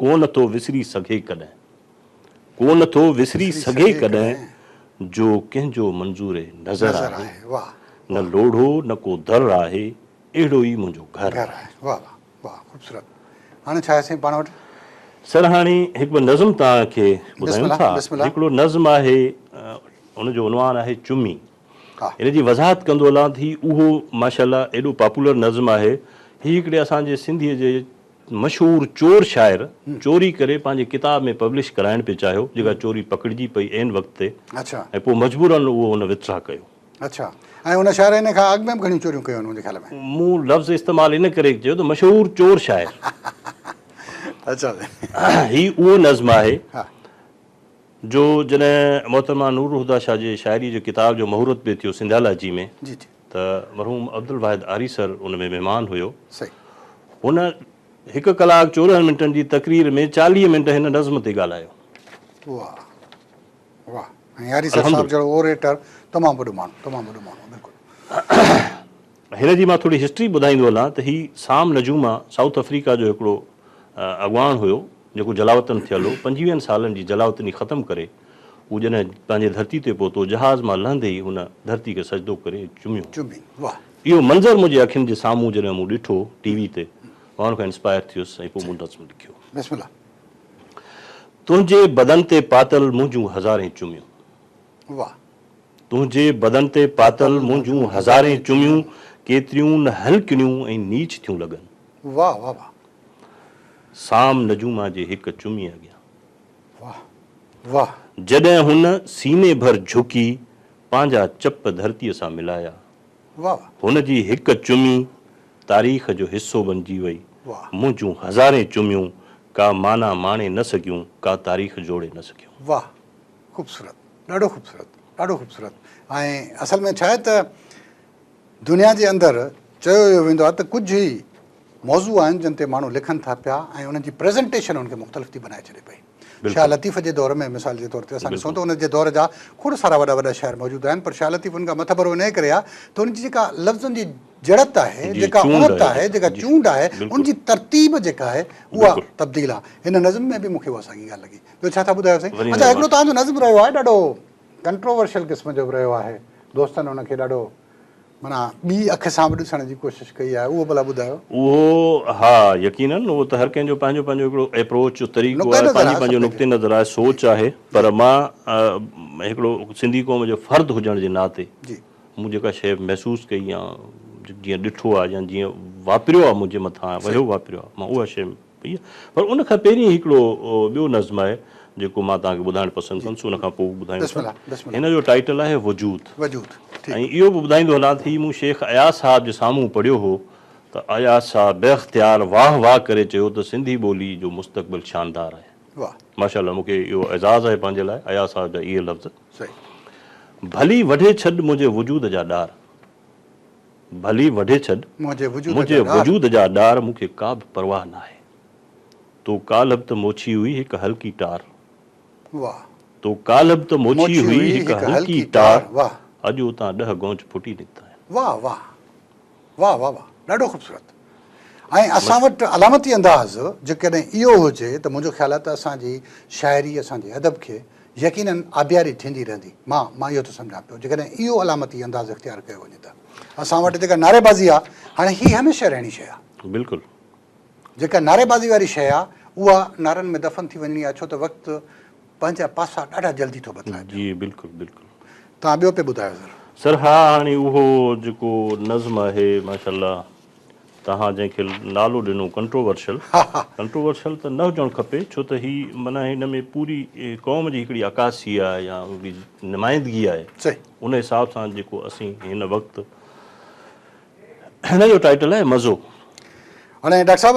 Speaker 1: ڪو نه
Speaker 2: ٿو وسري سگهي ڪڏهن. ڪو نه ٿو وسري سگهي ڪڏهن. جو ڪنهن جو منظور نظر آهي.
Speaker 1: نه لوڙهو
Speaker 2: نه ڪو در آهي. اهڙو ئي منهنجو گهر آهي. واه واه واه
Speaker 1: خوبصورت هاڻي ڇا آهي سائين پاڻ وٽ. سر هاڻي
Speaker 2: هڪ ٻه نظم توهان کي ٻڌايون ٿا هڪڙو
Speaker 1: نظم
Speaker 2: آهي ان جو عنوان آهي چمي ان جي
Speaker 1: وضاحت ڪندو
Speaker 2: هلان ٿي اهو ماشاءالله ايڏو پاپولر نظم آهي هي هڪڙي اسان جي سنڌي جي مشهور چور شاعر چوري ڪري پنهنجي ڪتاب ۾ پبلش ڪرائڻ پئي چاهيو جيڪا چوري پڪڙجي پئي عين وقت تي ۽ پوء مجبورا اهو هن وٿدرا ڪيو. اڇا
Speaker 1: ۽ ان شاعر ان کان اڳ ۾ به گهڻيون چوريون ڪيون آهن منهنجي خيال ۾. مون لفظ استعمال
Speaker 2: ان ڪري ڪيو ته مشهور چور شاعر.
Speaker 1: اڇا سائين. هي
Speaker 2: اهو نظم آهي جو جڏهن محترمه نورالهديٰ شاهه جي شاعري جي ڪتاب جو مهورت به ٿيو سنڌيالاجي ۾. جي جي. ته
Speaker 1: مرحوم
Speaker 2: عبدالواحد آريسر ان ۾ مهمان هيو.
Speaker 1: هن
Speaker 2: هڪ ڪلاڪ چورنهن منٽن جي تقرير ۾ چاليهه منٽ هن نظم تي ڳالهايو. واهه واهه ۽
Speaker 1: آريسر صاحب جهڙو اوريٽر تمام وڏو ماڻهو تمام وڏو ماڻهو بلڪل. هن جي مان ٿوري
Speaker 2: هسٽري ٻڌائيندو هلان ته هي سام نجوما سائوٿ آفريڪا جو هڪڙو اڳواڻ هيو. جيڪو جلاوطن ٿيل هو، پنجويهن سالن جي جلاوطني ختم ڪري، هو جڏهن پنهنجي ڌرتي تي پهتو، جهاز مان لهندي ئي هن ڌرتي کي سجدو ڪري چميو.
Speaker 1: اهو منظر منهنجي
Speaker 2: اکين جي سامهون جڏهن مون ڏٺو ٽي وي تي، مان ان کان انسپائر ٿيس ۽ پوء مون نظم لکيو. تنهنجي بدن تي پاتل منهنجون هزارين چميون.
Speaker 1: تنهنجي
Speaker 2: بدن تي پاتل منهنجون هزارين چميون، ڪيتريون نه هلڪڙيون ۽ نيچ ٿيون لڳن. سام نجوما جي هڪ چمي اڳيان.
Speaker 1: واهه واهه. جڏهن هن
Speaker 2: سيني ڀر جهڪي پنهنجا چپ ڌرتيء سان ملايا. واهه.
Speaker 1: هن جي هڪ
Speaker 2: چمي تاريخ جو حصو بنجي وئي. واهه. منهنجون
Speaker 1: هزارين
Speaker 2: چميون ڪا معنيٰ ماڻي نه سگهيون، ڪا تاريخ جوڙي نه سگهيون. واهه
Speaker 1: خوبصورت ڏاڍو خوبصورت ڏاڍو خوبصورت ۽ اصل ۾ ڇا آهي ته. دنيا جي اندر چيو اهو ويندو آهي ته ڪجهه ئي موضوع آهن جن تي ماڻهو لکن ٿا پيا ۽ انهن جي پريزنٽيشن انهن کي مختلف ٿي بنائي ڇڏي پئي. شاهه لطيف جي دور ۾ مثال جي طور تي اسان ڏسون ته ان جي دور جا کوڙ سارا وڏا وڏا شاعر موجود آهن پر شاهه لطيف ان کان مٿڀرو انهيء ڪري آهي ته ان جي جيڪا لفظن جي جڙت آهي، جيڪا اڻت آهي، جيڪا چونڊ آهي، ان جي ترتيب جيڪا آهي اها تبديل آهي. هن نظم ۾ به مون کي اها ساڳي ڳالهه لڳي. ٻيو ڇا ٿا ٻڌايو سائين؟ اچا هڪڙو توهان جو نظم رهيو آهي ڏاڍو ڪنٽروورشل قسم جو به رهيو آهي دوستن ان کي ڏاڍو معنيٰ ٻي اک سان به ڏسڻ جي ڪوشش ڪئي آهي اهو ڀلا ٻڌايو. اهو ها
Speaker 2: يقينن اهو ته هر ڪنهن جو پنهنجو پنهنجو هڪڙو ايپروچ طريقو آهي پنهنجي پنهنجو نقطي نظر آهي سوچ آهي پر مان هڪڙو سنڌي قوم جو فرد هجڻ جي ناتي مون جيڪا شيء محسوس ڪئي يا جيئن ڏٺو آهي يا جيئن واپريو آهي منهنجي مٿان وهيو واپريو آهي مان اها شيء پئي آهي پر ان کان پهرين هڪڙو ٻيو نظم آهي جيڪو مان توهان کي ٻڌائڻ پسند ڪندس ان کان پوء ٻڌايون ٿا هن جو ٽائيٽل آهي وجود ۽ اهو به ٻڌائيندو هلان ٿي مون شيخ اياز صاحب جي سامهون پڙهيو هو ته اياز صاحب بي اختيار واهه واهه ڪري چيو ته سنڌي ٻولي جو مستقبل شاندار آهي ماشاء الله مون کي اهو اعزاز آهي پنهنجي لاء اياز صاحب جا اهي لفظ ڀلي وڍي ڇڏ منهنجي وجود جا ڏار. ڀلي وڍي ڇڏ منهنجي وجود جا ڏار مون کي ڪا به پرواهه ناهي تو ڪالهه به ته موڇي هئي هڪ هلڪي ٽار تو ڪالهه به ته موڇي هئي هڪ هلڪي ٽار اڄ اتان ڏهه گونج ڦٽي نڪتا آهن. واھ واھ
Speaker 1: واھ واھ واھ ڏاڍو خوبصورت ۽ اسان وٽ علامتي انداز جيڪڏهن اهو هجي ته منهنجو خيال آهي ته اسان جي شاعري اسان جي ادب کي يقيناً آبياري ٿيندي رهندي. مان مان اهو ٿو سمجهان پيو جيڪڏهن اهو علامتي انداز اختيار ڪيو وڃي ته اسان وٽ جيڪا نعريبازي آهي هاڻي هي هميشه رهڻي شيء آهي. بلڪل. جيڪا نعريبازي واري شيء آهي اها نعرن ۾ دفن ٿي وڃڻي آهي ڇو ته وقت پنهنجا پاسا ڏاڍا جلدي ٿو بدلائي پيو. جي بلڪل بلڪل.
Speaker 2: توهان ٻيو پي
Speaker 1: ٻڌايو سر. سر ها هاڻي
Speaker 2: اهو جيڪو نظم آهي ماشاء الله. توهان جنهن کي نالو ڏنو ڪنٽروورشل، ڪنٽروورشل ته نه هجڻ کپي ڇو ته هي معنيٰ هن ۾ پوري قوم جي هڪڙي عڪاسي آهي يا ان جي نمائندگي آهي ان حساب
Speaker 1: سان
Speaker 2: جيڪو اسين هن وقت هن جو ٽائيٽل آهي مزو. هاڻي
Speaker 1: ڊاڪٽر صاحب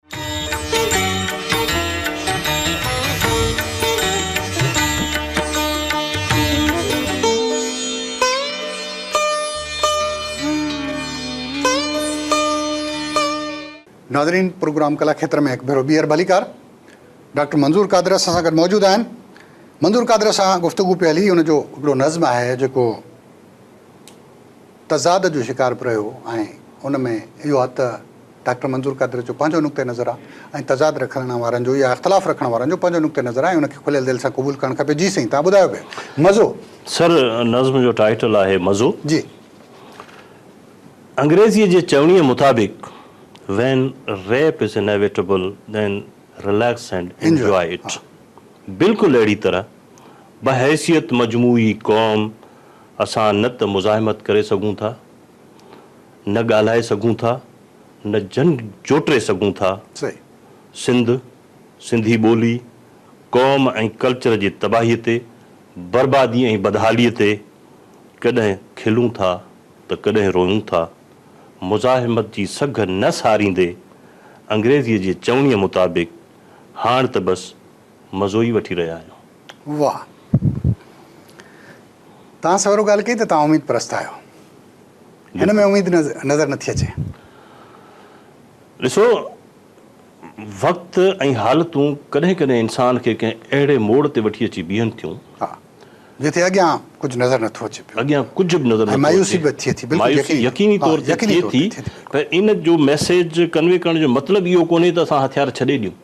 Speaker 1: ناظرين پروگرام ڪلا کيتر ۾ هڪ ڀيرو ٻيهر ڀليڪار ڊاڪٽر منظور قادر اسان سان گڏ موجود آهن منظور قادر سان گفتگو پي هلي ان جو هڪڙو نظم آهي جيڪو تضاد جو شڪار به رهيو آهي ان ۾ اهو آهي ته ڊاڪٽر منظور قادر جو پنهنجو نقطه نظر آهي ۽ تضاد رکڻ وارن جو يا اختلاف رکڻ وارن جو پنهنجو نقطه نظر آهي ۽ ان کي کليل دل سان قبول ڪرڻ کپي جي سائين تهان ٻڌايو پيو مزو. سر نظم
Speaker 2: جو ٽائيٽل آهي مزو. جي. انگريزيء جي چوڻيء مطابق When rape is inevitable then relax and enjoy it بلڪل اهڙي طرح بحيثيت مجموعي قوم، اسان نه ته مزاحمت ڪري سگهون ٿا، نه ڳالهائي سگهون ٿا، نه جنگ جوٽي سگهون ٿا.
Speaker 1: سنڌ،
Speaker 2: سنڌي ٻولي، قوم ۽ ڪلچر جي تباهيء تي، بربادي ۽ بدحاليء تي ڪڏهن کلون ٿا ته ڪڏهن روئون ٿا. مزاحمت جي سگهه نه ساريندي، انگريزيء جي چوڻيء مطابق، هاڻ ته بس مزو ئي وٺي رهيا آهيون. واهه.
Speaker 1: توهان سويرو ڳالهه ڪئي ته توهان اميد پرست آهيو. هن ۾ اميد نظر نٿي اچي. ڏسو
Speaker 2: وقت ۽ حالتون ڪڏهن ڪڏهن انسان کي ڪنهن اهڙي موڙ تي وٺي اچي بيهن ٿيون. ها
Speaker 1: جتي اڳيان ڪجهه نظر نٿو اچي پيو. اڳيان ڪجهه به نظر نٿو
Speaker 2: اچي. مايوسي به ٿئي ٿي. بلڪل
Speaker 1: يقيني طور. يقيني طور
Speaker 2: تي ٿئي ٿي. پر ان جو ميسيج ڪنوي ڪرڻ جو مطلب اهو ڪونهي ته اسان هٿيار ڇڏي ڏيون.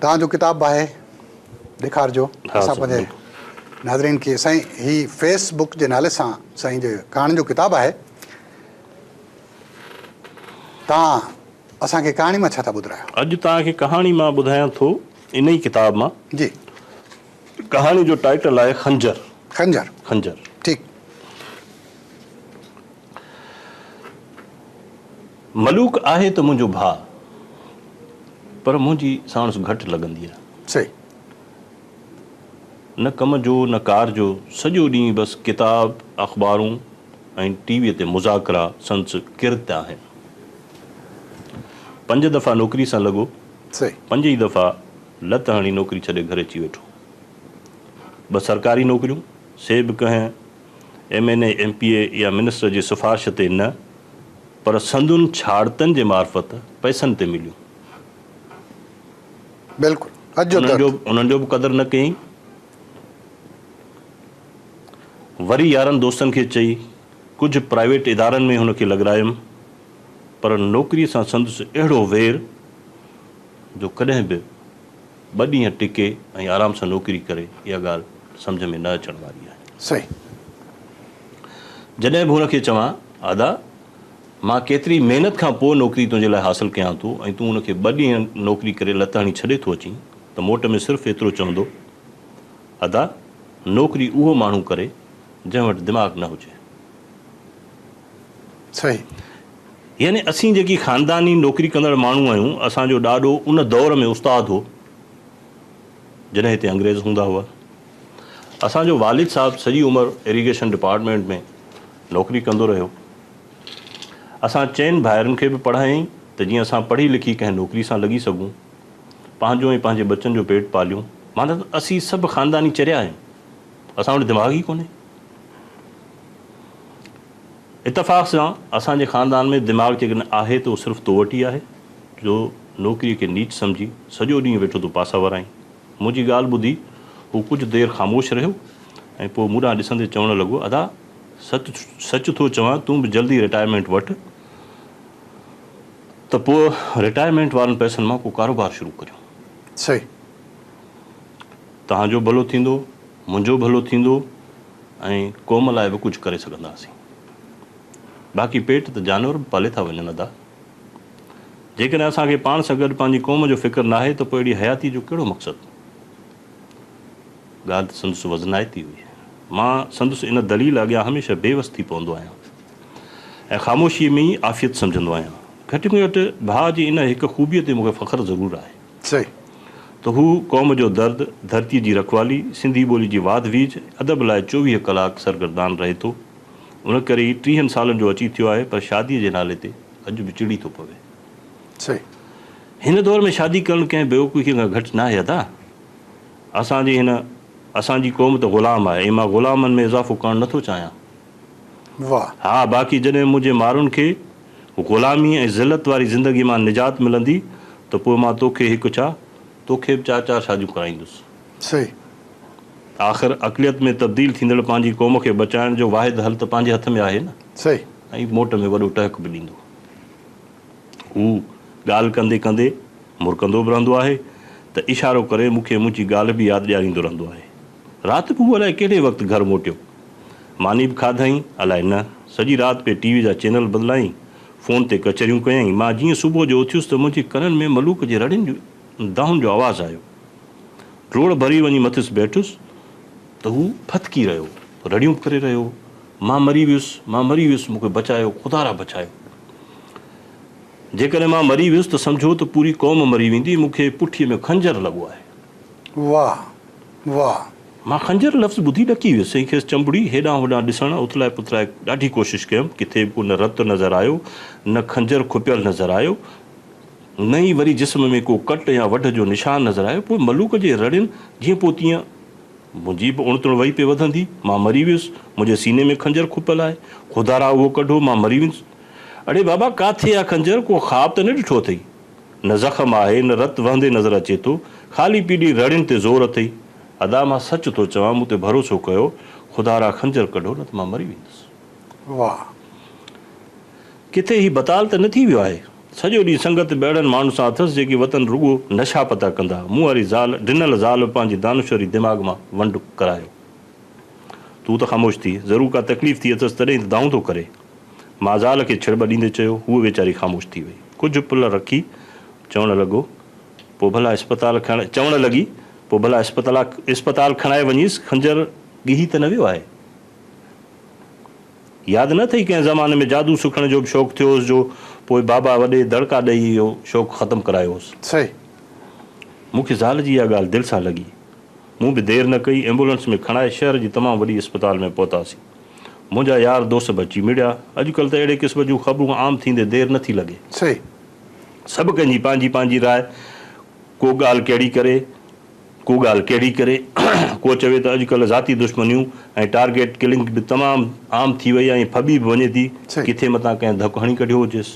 Speaker 2: توهان جو
Speaker 1: ڪتاب باهه ڏيکارجو اسان پنهنجي ناظرين کي سائين هي فيس بڪ جي نالي سان سائين جي ڪهاڻين جو ڪتاب آهي توهان اسان کي ڪهاڻي مان ڇا ٿا ٻڌرايو. اڄ توهان کي ڪهاڻي
Speaker 2: مان ٻڌايان ٿو ان ئي ڪتاب مان جي ڪهاڻي جو ٽائيٽل آهي خنجر خنجر خنجر
Speaker 1: ٺيڪ.
Speaker 2: ملوڪ آهي ته منهنجو ڀاء. پر منهنجي ساڻس گهٽ لڳندي آهي. صحيح. نه ڪم جو نه ڪار جو سڄو ڏينهن بس ڪتاب، اخبارون ۽ ٽي ويء تي مذاڪرا سندس ڪرت آهن. پنج دفعا نوڪري سان لڳو. صحيح. پنج ئي
Speaker 1: دفعا
Speaker 2: لت هڻي نوڪري ڇڏي گهر اچي ويٺو. ٻه سرڪاري نوڪريون سي به ڪنهن. M N A, M P A يا منسٽر جي سفارش تي نه پر سندن ڇاڙتن جي معرفت پئسن تي مليون.
Speaker 1: بلڪل اڄ جو درد. انهن جو به قدر
Speaker 2: نه ڪيئين. وري يارن دوستن کي چئي ڪجهه پرائيويٽ ادارن ۾ هن کي لڳرايم پر نوڪري سان سندس اهڙو وير جو ڪڏهن به. ٻه ڏينهن ٽڪي ۽ آرام سان نوڪري ڪري اها ڳالهه سمجهه ۾ نه اچڻ واري آهي. صحيح. جڏهن به هن کي چوان، ادا! مان ڪيتري محنت کان پوء نوڪري تنهنجي لاء حاصل ڪيان ٿو ۽ تون ان کي ٻه ڏينهن نوڪري ڪري لت هڻي ڇڏي ٿو اچين ته موٽ ۾ صرف ايترو چوندو، ادا! نوڪري اهو ماڻهو ڪري جنهن وٽ دماغ نه هجي.
Speaker 1: صحيح. يعني
Speaker 2: اسين جيڪي خانداني نوڪري ڪندڙ ماڻهو آهيون، اسان جو ڏاڏو ان دور ۾ استاد هو، جڏهن هتي انگريز هوندا هئا. اسان جو والد صاحب سڄي عمر اريگيشن ڊپارٽمينٽ ۾ نوڪري ڪندو رهيو. اسان چئن ڀائرن کي به پڙهايائين ته جيئن اسان پڙهي لکي ڪنهن نوڪري سان لڳي سگهون، پنهنجو ۽ پنهنجي ٻچن جو پيٽ پاليون. معنيٰ ته اسين سڀ خانداني چريا آهيون، اسان وٽ دماغ ئي ڪونهي. اتفاق سان اسان جي خاندان ۾ دماغ جيڪڏهن آهي ته اهو صرف تو وٽ ئي آهي جو نوڪريء کي نيچ سمجهي سڄو ڏينهن ويٺو تون پاسا ورائين. منهنجي ڳالهه ٻڌي هو ڪجهه دير خاموش رهيو ۽ پوء مون ڏانهن ڏسندي چوڻ لڳو ادا سچ سچ ٿو چوان تون به جلدي رٽائرمينٽ وٺ ته پوء رٽائرمينٽ وارن پئسن مان ڪو ڪاروبار شروع ڪريون. صحيح. تهان جو ڀلو ٿيندو. منهنجو ڀلو ٿيندو ۽ قوم لاء به ڪجهه ڪري سگهنداسين. باقي پيٽ ته جانور به پالي ٿا وڃن ادا. جيڪڏهن اسان کي پاڻ سان گڏ پنهنجي قوم جو فڪر ناهي ته پوء اهڙي حياتيء جو ڪهڙو مقصد؟ ڳالهه ته سندس وزنائتي هئي. مان سندس ان دليل اڳيان هميشه بي وس ٿي پوندو آهيان ۽ خاموشيء ۾ ئي عافيت سمجهندو آهيان. گهٽ ۾ گهٽ ڀاء جي ان هڪ خوبيء تي مون کي فخر ضرور آهي. سي
Speaker 1: ته هو
Speaker 2: قوم جو درد، ڌرتيء جي رکوالي، سنڌي ٻولي جي واڌ ويجهه، ادب لاء چوويهه ڪلاڪ سرگردان رهي ٿو. ان ڪري ئي ٽيهن سالن جو اچي ٿيو آهي پر شاديء جي نالي تي اڄ به چڙي ٿو پوي. سي
Speaker 1: هن
Speaker 2: دور ۾ شادي ڪرڻ ڪنهن بيوقوفيء کان گهٽ ناهي ادا. اسان جي هن اسان جي قوم ته غلام آهي ۽ مان غلامن ۾ اضافو ڪرڻ نه ٿو چاهيان.
Speaker 1: واهه. ها باقي
Speaker 2: جڏهن منهنجي مارن کي. غلاميء ۽ ذلت واري زندگيء مان نجات ملندي ته پوء مان توکي هڪ ڇا، توکي به چار چار شاديون ڪرائيندس. صحيح.
Speaker 1: آخر
Speaker 2: اقليت ۾ تبديل ٿيندڙ پنهنجي قوم کي بچائڻ جو واحد حل ته پنهنجي هٿ ۾ آهي نه. صحيح. ۽ موٽ
Speaker 1: ۾ وڏو
Speaker 2: ٽهڪ به ڏيندو. هو ڳالهه ڪندي ڪندي مرڪندو به رهندو آهي ته اشارو ڪري مون کي منهنجي ڳالهه به ياد ڏياريندو رهندو آهي. رات به هو الائي ڪهڙي وقت گهر موٽيو. ماني به کاڌائين، الائي نه، سڄي رات پئي ٽي وي جا چينل بدلائين، فون تي ڪچهريون ڪيائين، مان جيئن صبح جو اٿيس ته منهنجي ڪنن ۾ ملوڪ جي رڙين جون دانهن جو آواز آيو. ڊوڙ ڀري وڃي مٿس بيٺس ته هو ڦٿڪي رهيو هو، رڙيون به ڪري رهيو هو، مان مري ويس، مان مري ويس، مون کي بچايو، خدا را بچايو. جيڪڏهن مان مري ويس ته سمجهو ته پوري قوم مري ويندي، مون کي پٺيء ۾ خنجر لڳو آهي. واهه!
Speaker 1: واهه. مان خنجر
Speaker 2: لفظ ٻڌي ڏڪي ويس ۽ کيس چنبڙي هيڏانهن هوڏانهن ڏسڻ اٿلائي پٿلائي ڏاڍي ڪوشش ڪيم ڪٿي به ڪو نه رت نظر آيو نه خنجر کپيل نظر آيو نه ئي وري جسم ۾ ڪو ڪٽ يا وڍ جو نشان نظر آيو پوء ملوڪ جي رڙين جيئن پوء تيئن منهنجي به اڻتڻ وئي پئي وڌندي مان مري ويس منهنجي سيني ۾ خنجر کپيل آهي خدا را اهو ڪڍو مان مري ويس اڙي بابا ڪاٿي آ خنجر ڪو خواب ته نه ڏٺو اٿئي. نه زخم آهي، نه رت وهندي نظر اچي ٿو، خالي پيلي رڙين تي زور اٿئي. ادا مان سچ ٿو چوان، مون تي ڀروسو ڪيو، خدا را خنجر ڪڍو نه ته مان مري ويندس. واهه! ڪٿي هي بتال ته نه ٿي ويو آهي؟ سڄو ڏينهن سنگت به اهڙن ماڻهن سان اٿس جيڪي وتن رڳو نشا پتا ڪندا. مون واري زال، ڊنل زال به پنهنجي دانشوري دماغ مان ونڊ ڪرايو. تون ته خاموش ٿيء، ضرور ڪا تڪليف ٿي اٿس تڏهن ئي ته دانهون ٿو ڪري. مازال کي ڇڙٻ ڏيندي چيو. هوء ويچاري خاموش ٿي وئي. ڪجهه پل رکي چوڻ لڳو، پوء ڀلا اسپتال کڻ چوڻ لڳي، پوء ڀلا اسپتلا اسپتال کڻائي وڃيس، خنجر ڳهي ته نه ويو آهي؟ ياد نه اٿئي ڪنهن زماني ۾ جادو سکڻ جو به شوق ٿيو هوس جو پوء بابا وڏي دڙڪا ڏئي اهو شوق ختم ڪرايو هوس. صحيح.
Speaker 1: مون
Speaker 2: کي زال جي اها ڳالهه دل سان لڳي. مون به دير نه ڪئي، ايمبولنس ۾ کڻائي شهر جي تمام وڏي اسپتال ۾ پهتاسين. منهنجا يار دوست به اچي مڙيا. اڄڪلهه ته اهڙي قسم جون خبرون عام ٿيندي دير نه ٿي لڳي. صحيح.
Speaker 1: سڀ ڪنهن
Speaker 2: جي پنهنجي پنهنجي راء. ڪو ڳالهه ڪهڙي ڪري، ڪو ڳالهه ڪهڙي ڪري. ڪو چوي ته اڄڪلهه ذاتي دشمنيون ۽ ٽارگيٽ ڪلنگ به تمام عام ٿي وئي ۽ ڦٻي به وڃي ٿي. صحيح. ڪٿي متان ڪنهن ڌڪ هڻي ڪڍيو هجيس.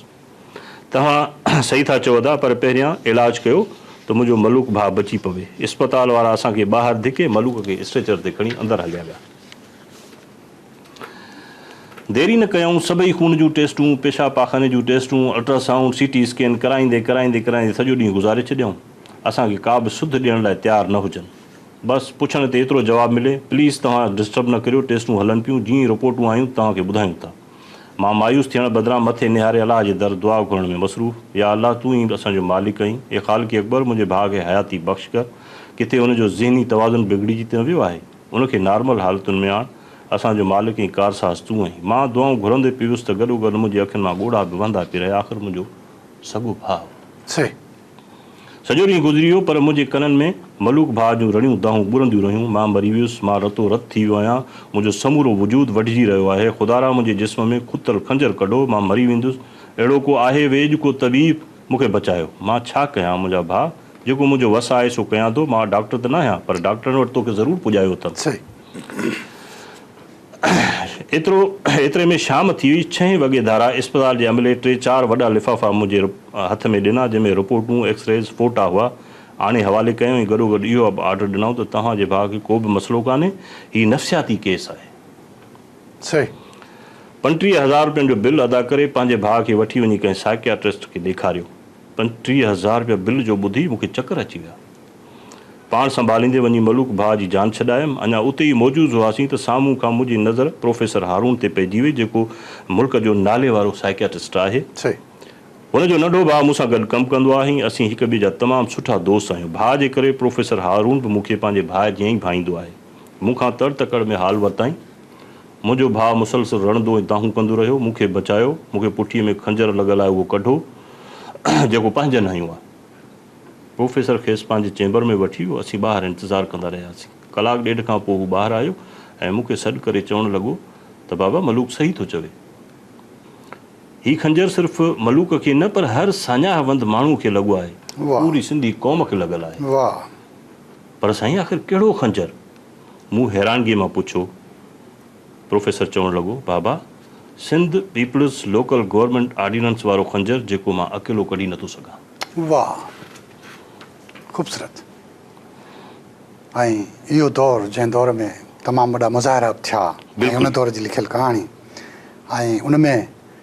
Speaker 2: توهان صحيح ٿا چئو ادا پر پهريان علاج ڪيو ته منهنجو ملوڪ ڀاء بچي پوي. اسپتال وارا اسان کي ٻاهر ڌڪي ملوڪ کي اسٽريچر تي کڻي اندر هليا ويا. ديري نه ڪيائون، سڀئي خون جون ٽيسٽون، پيشاب پاخاني جون ٽيسٽون، ultrasound, C T scan ڪرائيندي ڪرائيندي ڪرائيندي سڄو ڏينهن گذاري ڇڏيائون. اسان کي ڪابه سڌ ڏيڻ لاء تيار نه هجن. بس پڇڻ تي ايترو جواب ملي، پليز توهان ڊسٽرب نه ڪريو، ٽيسٽون هلن پيون، جيئن ئي رپورٽون آيون ته توهان کي ٻڌايون ٿا. مان مايوس ٿيڻ بدران مٿي نهاري الله جي در دعا گهرڻ ۾ مصروف، يا الله تون ئي اسان جو مالڪ آهين، اي خالق اڪبر منهنجي ڀاء کي حياتي بخش ڪر، ڪٿي ان جو ذهني توازن بگڙجي ته نه ويو آهي؟ ان کي نارمل حالتن ۾ آڻ، اسان جو مالڪ ۽ ڪارساز تون آهين. مان دعائون گهرندي پيوس ته گڏوگڏ منهنجي اکين مان ڳوڙها به وهندا پي رهيا، آخر منهنجو سڳو ڀاء هو. سڄو ڏينهن گذري ويو، پر منهنجي ڪنن ۾ ملوڪ ڀاء جون رڙيون دانهون ٻرنديون رهيون، مان مري ويس، مان رتو رت ٿي ويو آهيان، منهنجو سمورو وجود وڍجي رهيو آهي، خدارا منهنجي جسم ۾ کتل خنجر ڪڍو، مان مري ويندس، اهڙو ڪو آهي ويڄ، ڪو طبيب، مون کي بچايو، مان ڇا ڪيان، منهنجا ڀاء. جيڪو منهنجو وس آهي سو ڪيان ٿو. مان ڊاڪٽر ته ناهيان پر ڊاڪٽرن وٽ توکي ضرور پڄايو اٿم.
Speaker 1: ايترو
Speaker 2: ايتري ۾ شام ٿي هئي. ڇهين وڳي ڌارا اسپتال جي عملي ٽي چار وڏا لفافا منهنجي هٿ ۾ ڏنا جنهن ۾ رپورٽون، ايڪسريز، فوٽا هئا. آڻي حوالي ڪيائون ۽ گڏوگڏ اهو به آرڊر ڏنائون ته توهان جي ڀاء کي ڪو به مسئلو ڪانهي. هي نفسياتي ڪيس آهي. پنٽيهه هزار روپين جو بل ادا ڪري پنهنجي ڀاء کي وٺي وڃي ڪنهن سائڪياٽرسٽ کي ڏيکاريو. پنجٽيهه هزار رپيا بل جو ٻڌي مون کي چڪر اچي ويا. پاڻ سنڀاليندي وڃي ملوڪ ڀاء جي جان ڇڏايم. اڃا اتي ئي موجوز هئاسين ته سامهون کان منهنجي نظر پروفيسر هارون تي پئجي وئي جيڪو ملڪ جو ناليوارو سائيڪياٽسٽ آهي.
Speaker 1: هن جو ننڍو
Speaker 2: ڀاء مون سان گڏ ڪم ڪندو آهي ۽ اسين هڪ ٻئي جا تمام سٺا دوست آهيون. ڀاء جي ڪري پروفيسر هارون به مون کي پنهنجي ڀاء جيان ئي ڀائيندو آهي. مون کان تڙ تڪڙ ۾ حال ورتائين. منهنجو ڀاء مسلسل رڙندو ۽ دانهون ڪندو رهيو، مون کي بچايو، مون کي پٺيء ۾ خنجر لڳل آهي اهو ڪڍو، جيڪو پنهنجن هنيو آهي. پروفيسر کيس پنهنجي چيمبر ۾ وٺي ويو، اسين ٻاهر انتظار ڪندا رهياسين. ڪلاڪ ڏيڍ کان پوء هو ٻاهر آيو ۽ مون کي سڏ ڪري چوڻ لڳو ته بابا ملوڪ صحيح ٿو چوي. هي خنجر صرف ملوڪ کي نه پر هر ساڃاهه وند ماڻهوء کي لڳو آهي. پوري سنڌي قوم کي لڳل آهي.
Speaker 1: پر
Speaker 2: سائين آخر ڪهڙو خنجر؟ مون حيرانگيء مان پڇيو. پروفيسر چوڻ لڳو، بابا، Sindh people's local government ordinance وارو خنجر جيڪو مان اڪيلو ڪڍي نٿو سگهان. واهه!
Speaker 1: خوبصورت! ۽ اهو دور جنهن دور ۾ تمام وڏا مظاهرا به ٿيا ۽ ان دور جي لکيل ڪهاڻي ۽ ان ۾